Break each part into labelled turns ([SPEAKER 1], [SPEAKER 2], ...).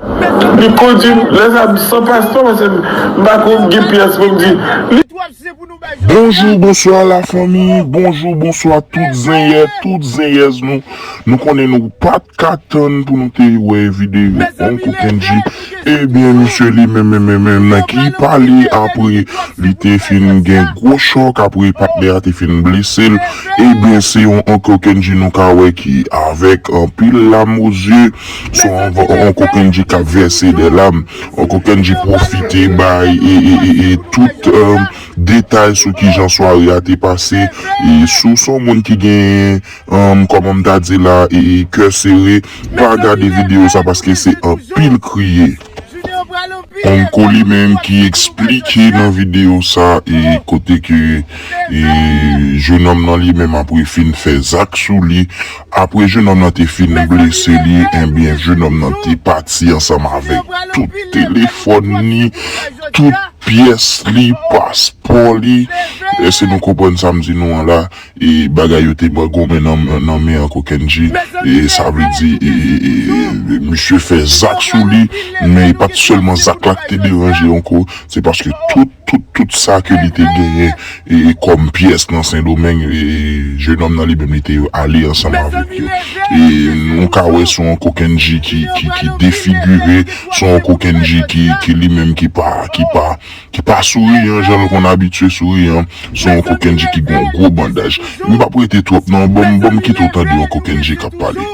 [SPEAKER 1] Li kondi lè sa m san paspo paske m pa ko gen pyès pou m di li.
[SPEAKER 2] Bonjou bonswa la fanmi bonjou bonswa tout zenyè tout zenyèz nou nou konnen nou pat ka tann pou nou te wè video uncle kendji ebyen misye li menm menm menm menm nan ki pale apre li te fin gen gwo chòk apre patnè a te fin blese l ebyen se yon uncle kendji nou ka wè ki avèk anpil lam o zye. Son Uncle Kendjy kap vèse de lam. Uncle Kendjy pwofite bay tout detay sou kijan sware a te pase. Si w son moun ki gen kòman m ta di la kè sere, pa gade videyo sa paske se anpil kriye. Uncle li menm ki eksplike nan video sa e kote ke e jenòm nan li menm apre fin fè zak sou li apre jenòm nan te fin blese li enbyen jenòm nan te pati ansanm avèk tout telefòn li tout pyès li paspò li èske nou konprann sa m di nou an la. Bagay yo te bwa gonmen nan men ankò Kendji sa vle di misye fè zak sou li men e pat sèlman zak la ki te deranje ankò se paske tout tout tout sa ke li te genyen kòm pyès nan sendomeng jenòm nan li menm li te ale ansanm avèk yo nou ka wè son ankò Kendji ki defigire son ankò Kendji ki li menm ki pa ki pa. ki pa souri an jan l konn abitye souri an, se yon kokenje ki gen yon gwo bandaj. M p ap rete twòp nan, ban m kite w tande yon kokenje k ap pale.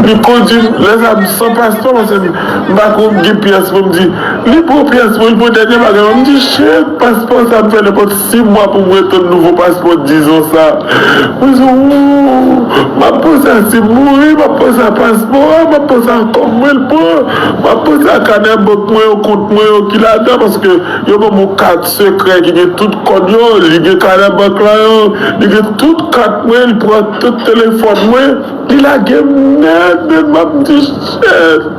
[SPEAKER 2] Li
[SPEAKER 1] kondi m, lè sa a m san pastan paske m pa ko gen pyès pou m di, li pran pyès mwen, li pran dènye bagay mwen, m di shit, paspò sa a m fè nenpòt. Si mwa pou mwen tann nouvo paspò dizon sa mwen sou ooh map panse a sim mouri map panse a paspò a map panse a kòb mwen l pran map panse a kanè bank mwen yo kont mwen yo ki ladan paske yo banm yon kat sekrè ki gen tout kòd yo li gen kanè bank la yo li gen tout kat mwen li pran tout telefòn mwen li lagem nèt nèt map di shit.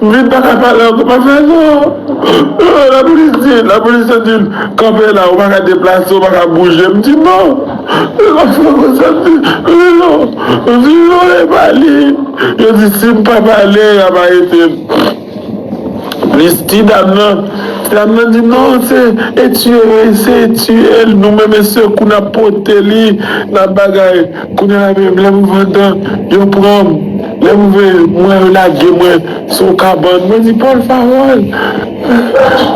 [SPEAKER 1] Mwen paka pale anko pa fè sa lapolis di lapolis yo dim kanpe la ou paka deplase ou paka bouje m di non e lòt fwa konn sa m di wi non m di non e pa li yo di si m pa pale yap arete m plis ti dam nan ti dam nan di non se e tiye wi se tiye l nou menm e sekou nap pote li nap bagay. Kounye a menm lè m vann nan, yo pran m. Lè m vle mwen, yo lage mwen sou yon kabann. Mwen di, Pòl Fawòl!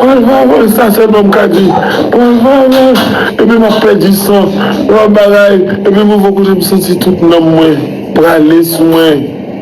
[SPEAKER 1] Pòl Fawòl! Sa sèlman m ka di, Pòl Fawòl! Epi m ap pèdi san, lòt bagay, epi mwen vin konnen m santi tout nanm mwen prale sou mwen.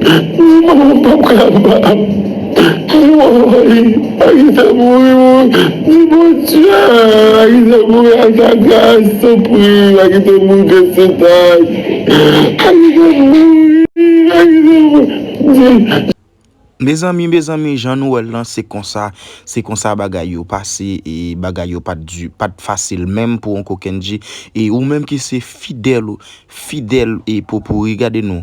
[SPEAKER 1] Ni manman m pap ka ba m. Ni manman Marie Agatha mouri mouri ni Bondye Agatha mouri ak agras tanpri Agatha mouri kè sotaj Agatha mouri Agatha mouri. Mezanmi
[SPEAKER 3] mezanmi jan nou wèl lan se konsa se konsa bagay yo pase e bagay yo pat di pat fasil menm pou on kokendji e ou menm ki se fidèl fidèl e popouri gade nou